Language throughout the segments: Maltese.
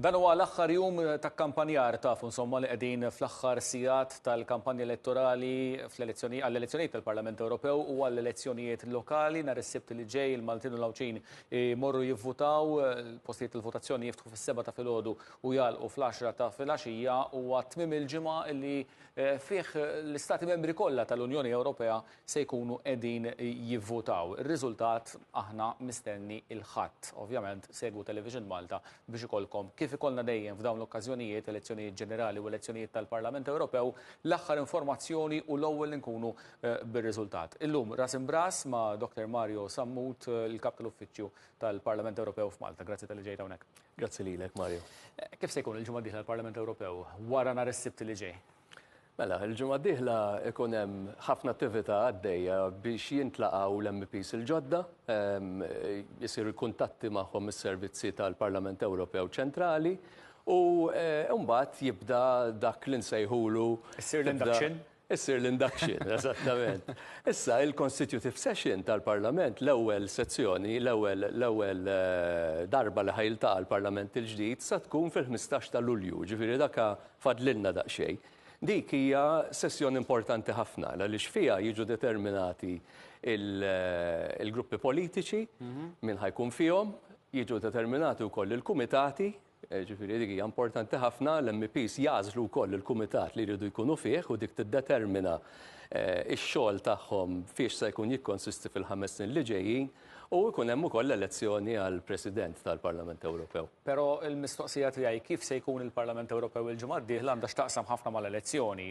Dan huwa l-aħħar jum ta' kkampanjar tafu insomma li qegħdin fl-aħħar sigħat tal-kampanja elettorali fl-elezzjoni għall-elezzjonijiet tal-Parlament Ewropew u għall-elezzjonijiet lokali nhar is-Sibt li ġej il-Maltin u l-Għawdxin imorru jivvutaw postijiet tal-votazzjoni jiftħu fis-seba' ta' filgħodu u jagħlqu fl-għaxra ta' filgħaxija huwa tmiem il-ġimgħa li fih l-Istati Membri kollha tal-Unjoni Ewropea se jkunu qegħdin jivvutaw. Ir-riżultat aħna mistenni il-Ħadd. Ovvjament segwu Television Malta biex ikollkom, kif ikollna dejjem f'dawn l-okkażjonijiet, elezzjonijiet ġenerali u elezzjonijiet tal-Parlament Ewropew, l-aħħar informazzjoni u l-ewwel li nkunu bir-riżultat. Illum ras imb'ras ma' Dr Mario Sammut, il-Kap tal-Uffiċċju tal-Parlament Ewropew f'Malta. Grazzi talli ġejt hawnhekk. Grazzi lilek, Mario. Kif se jkun il-ġimgħa d-dieħla l-Parlament Ewropew wara nhar is-Sibt li ġej? Mela, il-ġimgħa d-dieħla ikun hemm ħafna attività għaddejja biex jintlaqgħu l-MPs il-ġodda, jisir ehm, kuntatti magħhom is-servizzi tal-Parlament Ewropew ċentrali u eh, mbagħad jibda dak li nsejħulu. Issir l-induction? Issir l-induction, eżattament. Issa, il-constitutive session tal-Parlament, l-ewwel sezzjoni, l-ewwel l-ewwel eh, darba li ħajlta l-Parlament il-ġdid, sa tkun fil-15 ta' Lulju, ġifieri daka Fadlilna daqsxejn. Dik hija sessjoni importanti ħafna għaliex fiha jiġu determinati il-gruppi politiċi, min ħa jkun fihom, jiġu determinati wkoll il-kumitati, ġifieri dik hija importanti ħafna, l-MEPs jagħżlu wkoll il-kumitat li jridu jkunu fih u dik tiddetermina x-xogħol tagħhom fiex se jkun jikkonsisti fil-ħames snin li ġejjin. U jkun hemm ukoll l-elezzjoni għal President tal-Parlament Ewropew. Però l-mistoqsija tiegħi kif se jkun il-Parlament Ewropew il-ġimgħa d-dieħla għandha x'taqsam ħafna mal-elezzjoni.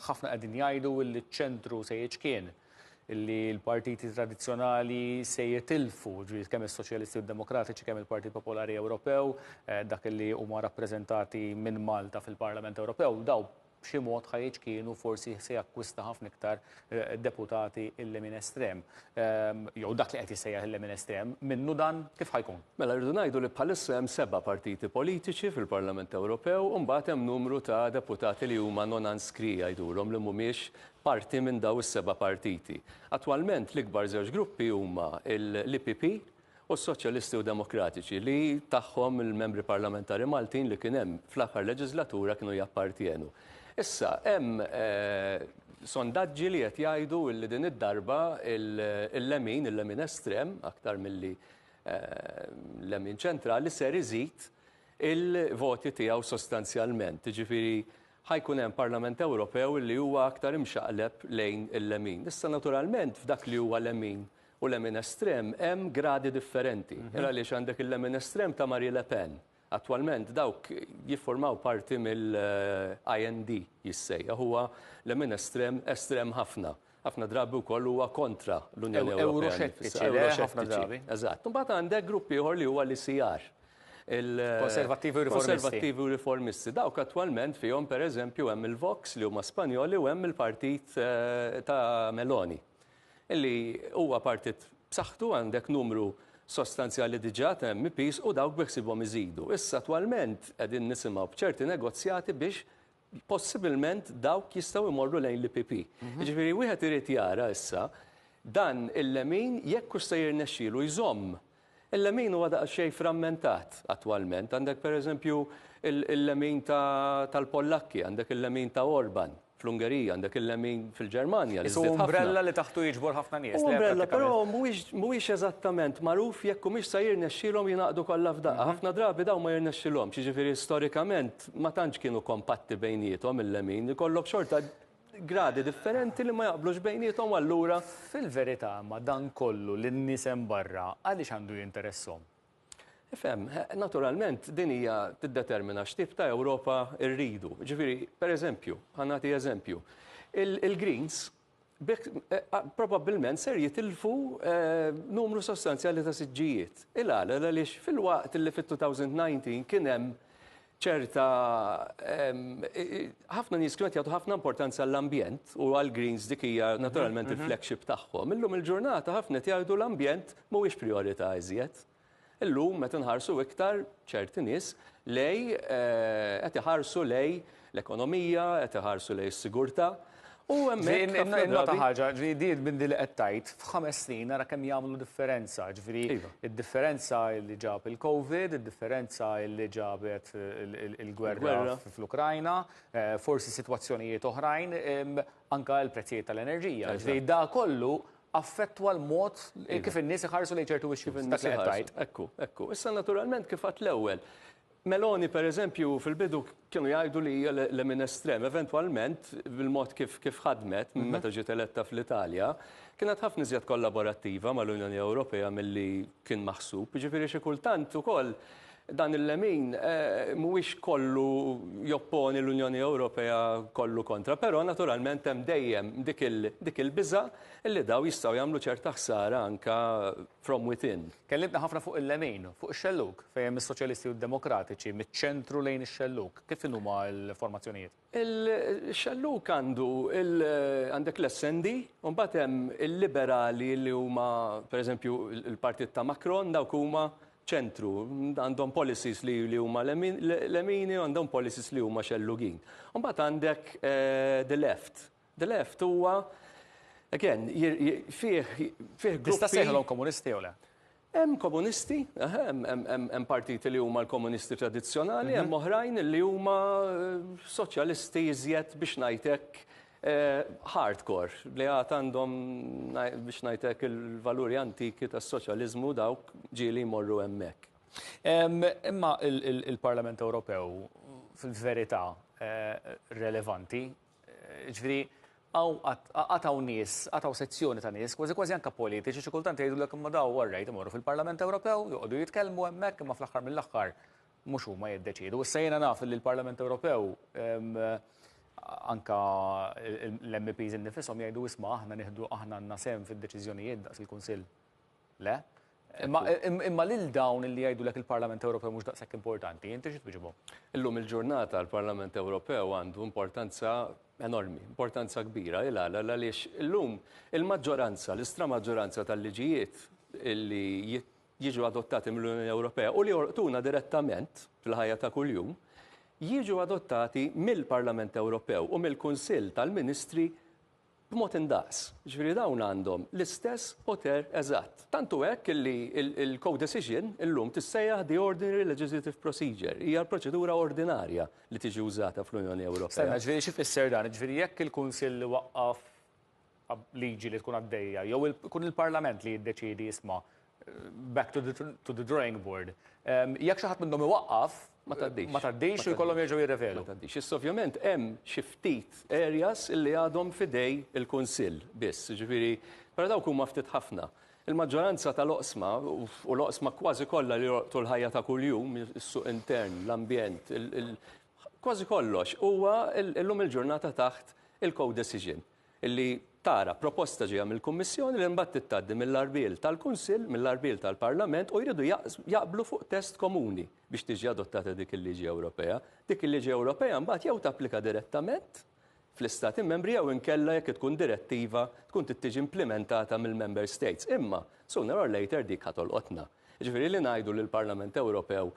Ħafna qegħdin jgħidu li ċ-ċentru se jiċkien, li l-partiti tradizzjonali se jitilfu, ġifieri kemm is-Soċjalisti u d-Demokratiċi, kemm il-Partit Popolari Ewropew, dak li huma rappreżentati minn Malta fil-Parlament Ewropew, dawn b'xi mod ħa jiċkien u forsi se jakkwista ħafna iktar eh, deputati il-lemin estrem. Ehm, jew dak li qed jissejjaħ il-lemin estrem, minnu dan kif ħajkun? Mela rridu ngħidu li bħalissa hemm seba' partiti politiċi fil-Parlament Ewropew u mbagħad hemm numru ta' deputati li huma non anskri jgħidulhom li mhumiex parti minn daw is-seba' partiti. Attwalment l-ikbar żewġ gruppi huma l-IPP u s-Soċjalisti u Demokratiċi, li tagħhom il-Membri Parlamentari Maltin li kien hemm fl-aħħar leġislatura kienu jappartjenu. Issa, hemm sondaġġi li qed jgħidu li din id-darba il-lemin, il-lemin estrem, aktar milli l-lemin ċentrali, ser iżid il-voti tiegħu sostanzjalment. Jiġifieri ħajkun hemm Parlament Ewropew li huwa aktar imxaqleb lejn il-lemin. Issa naturalment f'dak li huwa lemin U lemin estrem hemm gradi differenti. Hil għaliex għandek il-lemin estrem ta' Marie Le Pen. Attwalment dawk jifformaw parti mill-IND jissejjaħ. Huwa lemin estrem, estrem ħafna. Ħafna drabi wkoll huwa kontra l-Unjoni Ewropea. Ewroxettiċi, ewroxettiċi. Eżatt. Imbagħad għandek grupp ieħor li huwa l-ICR. Konservattivi u riformisti. Konservattivi u riformisti. Dawk attwalment fihom pereżempju hemm il-Vox li huma Spanjoli u hemm il-partit ta' Meloni. li huwa partit b'saħħtu għandek numru sostanzjali diġà ta' MEPs u dawk beħsiebhom iżidu. Issa attwalment qegħdin nisimgħu b'ċerti negozjati biex possibilment dawk jistgħu jmorru lejn l-IPP. Mhm. Jiġifieri wieħed irid jara issa dan il-lemin jekk hux se jirnexxielu jżomm Il-lemin huwa daqsxejn frammentat attwalment. Għandek pereżempju il-lemin tal-Pollakki, għandek il-lemin ta' Orban fl-Ungerija, għandek il-lemin fil-Ġermanja li żdied ħafna. Huwa umbrella li taħtu jiġbor ħafna nies. Huwa umbrella, però mhuwiex eżattament magħruf jekk humiex se jirnexxilhom jingħaqdu kollha f'daqqa. Ħafna drabi dawn ma jirnexxilhomx, jiġifieri storikament ma tantx kienu kompatti bejniethom il-lemin, ikollok xorta gradi differenti li ma jaqblux bejniethom u allura. Fil-verità, imma, dan kollu lin-nies hemm barra għaliex għandu jinteresshom? Ifhem, naturalment, din hija tiddetermina x'tip ta' Ewropa rridu. Jiġifieri, per eżempju, ħa nagħti eżempju, il-Greens b'hekk probabbilment ser jitilfu numru sostanzjali ta' siġġijiet. Il-għala? L-għaliex filwaqt li fit-2019 kien hemm ċerta ħafna nies kienu qed jagħtu ħafna importanza għall-ambjent u għall-greens dik hija mhm, naturalment mhm. il-flagship tagħhom. Illum il-ġurnata ħafna qed jgħidu l-ambjent mhuwiex priorità iżjed. Illum meta nħarsu iktar ċerti nies lej eh, qed iħarsu lej l-ekonomija, qed iħarsu lej s-sigurtà, U hemmhekk nota ħaġa, ġifieri di minn li qed tgħid f'ħames snin nara kemm jagħmlu differenza, ġifieri iva. id-differenza li ġab il-COVID, id-differenza li ġabet il-gwerra fl-Ukrajna, eh, forsi sitwazzjonijiet oħrajn, anka l-prezzijiet tal-enerġija. Ġifieri da kollu affettwa l-mod iva. kif in-nies iħarsu lejn ċertu wixxi dak li qed tgħid. Ekku, ekku. Issa naturalment kif għad l-ewwel Meloni, per eżempju, fil-bidu kienu jgħidu li hija lemin estrem. Eventwalment, bil-mod kif kif ħadmet minn meta ġiet eletta fl-Italja, kienet ħafna iżjed kollaborattiva mal-Unjoni Ewropea milli kien maħsub. Jiġifieri xi kultant ukoll dan il-lemin mhuwiex kollu jopponi l-Unjoni Ewropea kollu kontra. Però naturalment hemm dejjem dik il-biża' li dawn jistgħu jagħmlu ċerta ħsara anke From Within. Kellimtna ħafna fuq il-lemin, fuq ix-xellug, fejn hemm is-Soċjalisti u d-Demokratiċi, miċ-ċentru lejn ix-xellug. Kif inhuma l-formazzjonijiet? Il-xellug għandu il, għandek l-SND, u mbagħad hemm il-Liberali li huma, per eżempju, il-partit ta' Macron, dawk huma ċentru, għandhom policies li li huma lemin, lemini, għandhom policies li huma xellugin. U mbagħad għandek the left, The Left huwa, again, fih gruppi. Tista' ssejħilhom komunisti jew le? Hemm komunisti, hemm partiti li huma l-komunisti tradizzjonali, hemm oħrajn li huma soċjalisti iżjed biex ngħid hekk hardcore li għad għandhom biex ngħidlek il-valuri antiki tas-soċjaliżmu dawk ġieli jmorru hemmhekk. Imma il-Parlament Ewropew fil-verità relevanti Jiġifieri hawn qatt hawn nies, qatt hawn sezzjoni ta' nies, kważi kważi anke politiċi xi kultant jgħidulek imma daw orrejt imorru fil-Parlament Ewropew, joqogħdu jitkellmu hemmhekk imma fl-aħħar mill-aħħar mhux huma jiddeċiedu. Issa jiena naf li l-Parlament Ewropew anke l-MEPs innifishom jgħidu isma' aħna nieħdu aħna għandna sehem fid-deċiżjonijiet daqs il-Kunsill. Le? Imma, imma lil dawn illi jgħidulek il-Parlament Ewropew mhux daqshekk importanti, inti xi twiġibhom? Illum il-ġurnata l-Parlament Ewropew għandu importanza enormi, importanza kbira, il għala għaliex illum il-maġġoranza, l-istramaġġoranza tal-liġijiet li jiġu adottati mill-Unjoni Ewropea u li jorqtuna direttament fil-ħajja ta' kuljum, jiġu adottati mill-Parlament Ewropew u mill-Kunsill tal-Ministri b'mod indaqs, jiġifieri dawn għandhom l-istess poter eżatt. Tant hu hekk li l-codecision illum tissejjaħ the ordinary legislative procedure, hija l-proċedura ordinarja li tiġi użata fl-Unjoni Ewropea. Stenna, jiġifieri xi jfisser dan? Jiġifieri jekk il-Kunsill iwaqqaf liġi li tkun għaddejja jew ikun il-Parlament li jiddeċiedi isma' back to the, to the drawing board. Um, Jekk xi ħadd minnhom iwaqqaf, ma taddix. Ma taddix u jkollhom jerġgħu jirrevedu. Ma taddix. Issa ovvjament hemm xi ftit areas illi għadhom fidej il-Kunsill biss, ġifieri, però dawk huma ftit ħafna. Il-maġġoranza tal-oqsma u l-oqsma kważi kollha li jorqtu l-ħajja ta' kuljum, is-suq intern, l-ambjent, kważi kollox huwa llum il-ġurnata taħt il-co-decision. li tara proposta ġejja mill-Kummissjoni li mbagħad trid tgħaddi mill-għarbiel tal-Kunsill, mill-għarbiel tal-Parlament u jridu jaqblu fuq test komuni biex tiġi adottata dik il-liġi Ewropea. Dik il-liġi Ewropea mbagħad jew tapplika direttament fl-Istati Membri jew inkella jekk tkun direttiva tkun trid tiġi implimentata mill-Member States. Imma sooner or later dik ħa tolqotna. Jiġifieri li ngħidu li l-Parlament Ewropew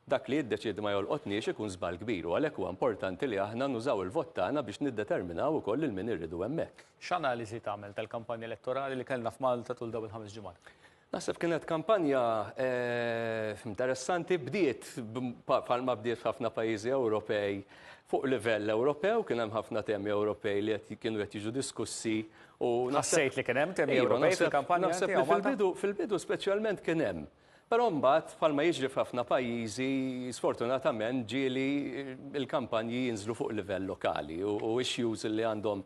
Dak li jiddeċiedi ma jolqotniex ikun żball kbir u għalhekk huwa importanti li aħna nużaw il-vot tagħna biex niddeterminaw ukoll lil min irridu hemmhekk. X'analiżi tagħmel tal-kampanja elettorali li kellna f'Malta tul dawn il-ħames ġimgħat? Naħseb kienet kampanja interessanti. Bdiet bħalma bdiet f'ħafna pajjiżi Ewropej fuq livell Ewropew, kien hemm ħafna temi Ewropej li qed kienu qed jiġu diskussi u Ħassejt li kien hemm temi Ewropej fil-kampanja? Naħseb li fil-bidu fil-bidu speċjalment kien hemm. Però mbagħad, bħalma jiġri f'ħafna pajjiżi, sfortunatament ġieli l-kampanji jinżlu fuq livell lokali u issues li għandhom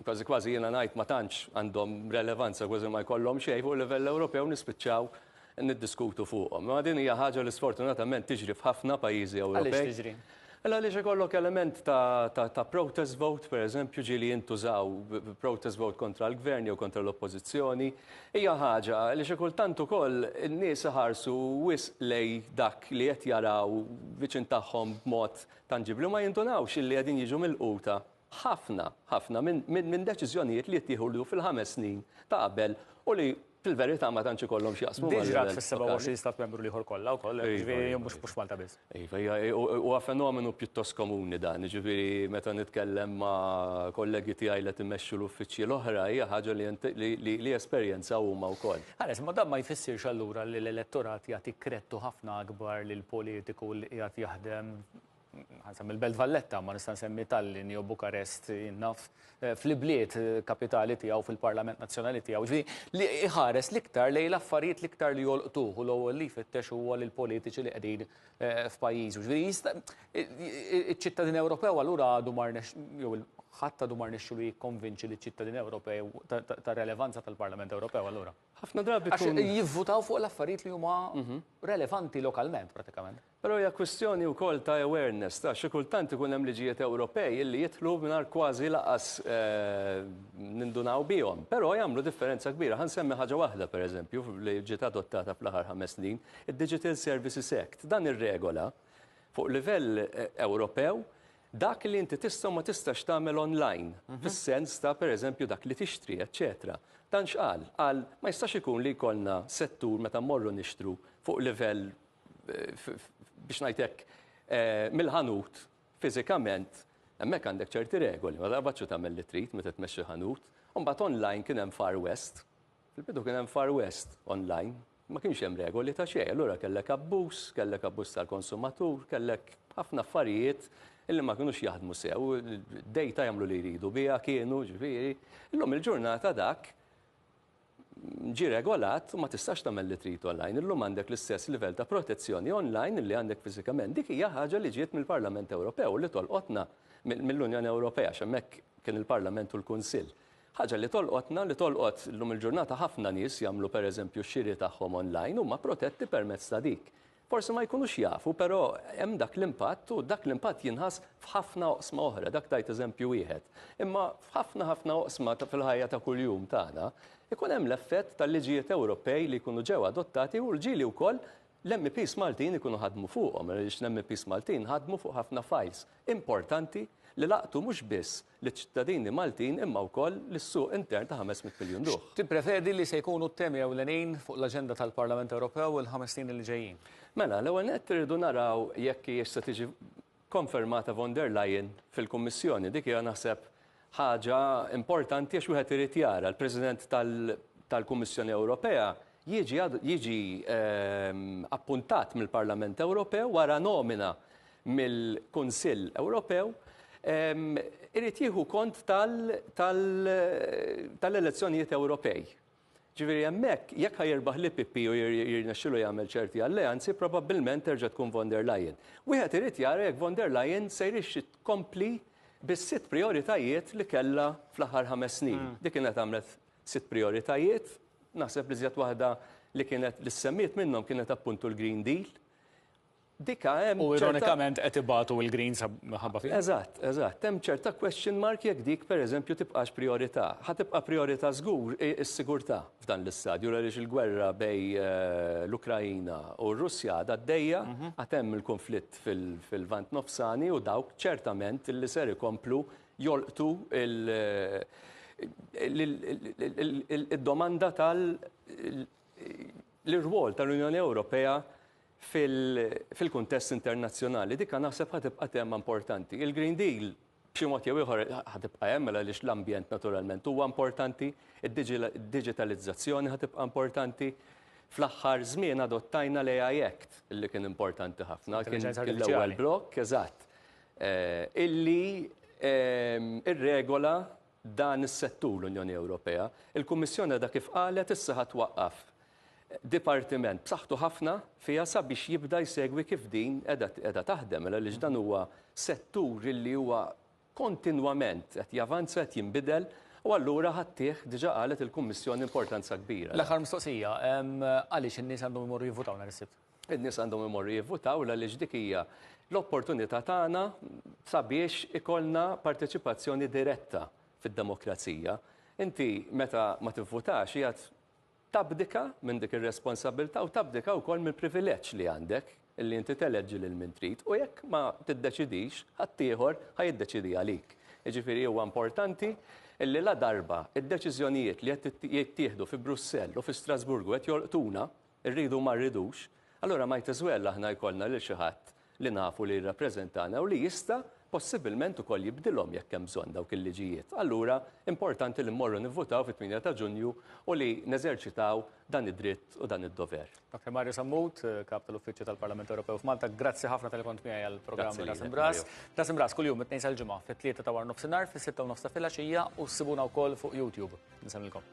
kważi kważi jiena ngħid ma tantx għandhom relevanza kważi ma jkollhom xejn fuq livell Ewropew nispiċċaw niddiskutu fuqhom. Ma din hija ħaġa li sfortunatament tiġri f'ħafna pajjiżi Ewropej. Għaliex tiġri? Mela għaliex ikollok element ta', ta', ta' protest vote, per eżempju, ġieli jintużaw protest vote kontra l-Gvern jew kontra l-Oppożizzjoni, hija ħaġa, għaliex kultant ukoll in-nies iħarsu wisq lej dak li qed jaraw viċin tagħhom b'mod tanġibbli u ma jindunawx illi qegħdin jiġu milquta ħafna, ħafna minn, minn, minn deċiżjonijiet li jittieħu fil-ħames snin ta' qabel u li Fil-verità ma tantx ikollhom x'jaqsmu mal-livell. Diġrad fis-27 stat membru l-ieħor kollha wkoll, jiġifieri mhux mhux Malta biss. Iva, hija huwa fenomenu pjuttost komuni dan, jiġifieri meta nitkellem ma' kollegi tiegħi li qed imexxu l-uffiċċji l-oħra hija ħaġa li int li li li jesperjenzaw huma wkoll. Ħares, imma dan ma jfissirx allura li l-elettorat jagħti kredtu ħafna akbar lill-politiku li qiegħed jaħdem Ħa nsemmi l-Belt Valletta, ma nista' nsemmi Tallinn jew Bukarest, jien naf eh, fl-ibliet eh, kapitali tiegħu fil-Parlament Nazzjonali tiegħu. Ġifieri li iħares l-iktar lejn l-affarijiet l-iktar li jolqtuh u l-ewwel li jfittex huwa lil politiċi li qegħdin eh, f'pajjiżu. Ġifieri jista' iċ-ċittadin Ewropew allura għadu mar jew ħadd għadu mar nexxu li jikkonvinċi li ċittadin Ewropew ta' relevanza tal-Parlament Ewropew allura. Ħafna drabi jivvutaw fuq l-affarijiet li huma mhm. relevanti lokalment pratikament. Però hija kwistjoni wkoll ta' awareness, ta' xi kultant ikun hemm liġijiet Ewropej illi jidħlu mingħajr kważi lanqas nindunaw bihom, però jagħmlu differenza kbira. Ħa nsemmi ħaġa waħda, pereżempju, li ġiet adottata fl-aħħar ħames snin, id-Digital Services Act. Dan irregola, fuq livell Ewropew, dak li inti tista' u ma tistax tagħmel online, fis-sens ta' pereżempju dak li tixtri, eċċetera. Dan x'qal? Qal, ma jistax ikun li jkollna settur meta mmorru nixtru fuq livell, biex ngħid hekk, mill-ħanut fiżikament hemmhekk għandek ċerti regoli, ma taqbadx u tagħmel li trid meta tmexxi ħanut. U mbagħad online kien hemm Far West, fil-bidu kien hemm Far West online, ma kienx hemm regoli ta' xejn, allura kellek abbuż, kellek abbuż tal-konsumatur, kellek ħafna affarijiet illi ma kinux jaħdmu sew, dejta jagħmlu li jridu biha kienu, ġifieri. Illum il-ġurnata dak ġie regolat u ma tistax tagħmel li trid online. Illum għandek l-istess livell ta' protezzjoni online li għandek fiżikament. Dik hija ħaġa li ġiet mill-Parlament Ewropew u li tolqotna mill-Unjoni Ewropea għax hemmhekk kien il-Parlament u l-Kunsill. Ħaġa li tolqotna li tolqot illum il-ġurnata ħafna nies jagħmlu pereżempju x-xiri tagħhom online huma protetti permezz ta' dik. Forsi ma jkunux jafu, però hemm dak l-impatt u dak l-impatt jinħass f'ħafna oqsma oħra, dak tajt eżempju wieħed. Imma f'ħafna ħafna oqsma fil-ħajja ta' kuljum tagħna, ikun hemm l-effett tal-liġijiet Ewropej li jkunu ġew adottati u li wkoll l-MEPs Maltin ikunu ħadmu fuqhom, għaliex l-MEPs Maltin ħadmu fuq ħafna fajls importanti li laqtu mhux biss liċ-ċittadini Maltin imma wkoll lis-suq intern ta' ħames mitt miljun ruħ. X'tipprevedi li se jkunu t-temi ewlenin fuq l-aġenda tal-Parlament Ewropew il-ħames snin li ġejjin? Mela, l-ewwel nett irridu naraw jekk hijiex se tiġi konfermata von der Leyen fil-Kummissjoni. Dik hija naħseb ħaġa importanti għax wieħed irid jara l-President tal-Kummissjoni Ewropea jiġi appuntat mill-Parlament Ewropew wara nomina mill-Kunsill Ewropew irid jieħu kont tal-elezzjonijiet Ewropej. Ġifieri hemmhekk jekk ħa jirbaħ li Pippi u jirnexxilu jagħmel ċerti alleanzi, probabbilment terġa' tkun von der Leyen. Wieħed irid jara jekk von der Leyen se jrixxi tkompli bis-sitt prijoritajiet li kellha fl-aħħar ħames snin. Hmm. Dik kienet għamlet sitt prijoritajiet, naħseb li żjed waħda li kienet li semmiet minnhom kienet appuntu l-Green Deal Dika hemm. U ironikament qed ibatu l-Greens minħabba fih. Eżatt, eżatt. Hemm ċerta question mark jekk dik pereżempju tibqax prijorità. Ħa tibqa' prijorità żgur is-sigurtà f'dan l-istadju għaliex il-gwerra bejn l-Ukraina u r-Russja għadha għaddejja, għad hemm il-kunflitt fil-Lvant Nofsani u dawk ċertament li ser ikomplu jolqtu l-domanda tal-irwol tal-Unjoni Ewropea fil-kuntest internazzjonali. Dik naħseb ħa tibqa' tema importanti. Il-Green Deal b'xi mod jew ieħor ħa tibqa' hemm mela għaliex l-ambjent naturalment huwa importanti, id-diġitalizzazzjoni ħa tibqa' importanti. Fl-aħħar żmien adottajna l-AI Act li kien importanti ħafna, kien l-ewwel blokk, eżatt, illi irregola dan is-settur l-Unjoni Ewropea, il-Kummissjoni għadha kif qalet issa ħa twaqqaf dipartiment b'saħħtu ħafna fiha sabiex jibda jsegwi kif din qiegħda taħdem għaliex dan huwa settur li huwa kontinwament qed javanza, qed jinbidel u allura ħa ttih, diġà qalet il-Kummissjoni, importanza kbira. L-aħħar mistoqsija, għaliex in-nies għandhom imorru jivvutaw nhar is-Sibt? In-nies għandhom imorru jivvutaw għaliex dik hija l-opportunità tagħna sabiex ikollna parteċipazzjoni diretta fid-demokrazija. Inti meta ma tivvutax qiegħed tabdika minn dik ir-responsabbiltà u tabdika wkoll mill-privileġġ li għandek li inti teleġġi lil min trid u jekk ma tiddeċidix ħaddieħor ħa jiddeċidi għalik. Jiġifieri huwa importanti li ladarba d-deċiżjonijiet li qed jittieħdu fi Brussell u fi Strasburgu qed jolqtuna Irridu ma rridux, allura might as well aħna jkollna lil xi ħadd li nafu li jirrappreżentana u li jista' possibilment ukoll jibdilhom jekk hemm bżonn dawk il-liġijiet. Allura importanti li mmorru nivvutaw fit-8 ta' Ġunju u li neżerċitaw dan id-dritt u dan id-dover. Dr. Mario Sammut, Kap tal-Uffiċċju tal-Parlament Ewropew f'Malta, grazzi ħafna talli kont miegħi għall-programm Ras Imb'Ras. Ras Imb'Ras kuljum mit-Tnejn sal-Ġimgħa fit-Tlieta ta' waranofsinhar, fis-Sitta u nofs ta' filgħaxija u ssibuna wkoll fuq YouTube. Insellmilkom.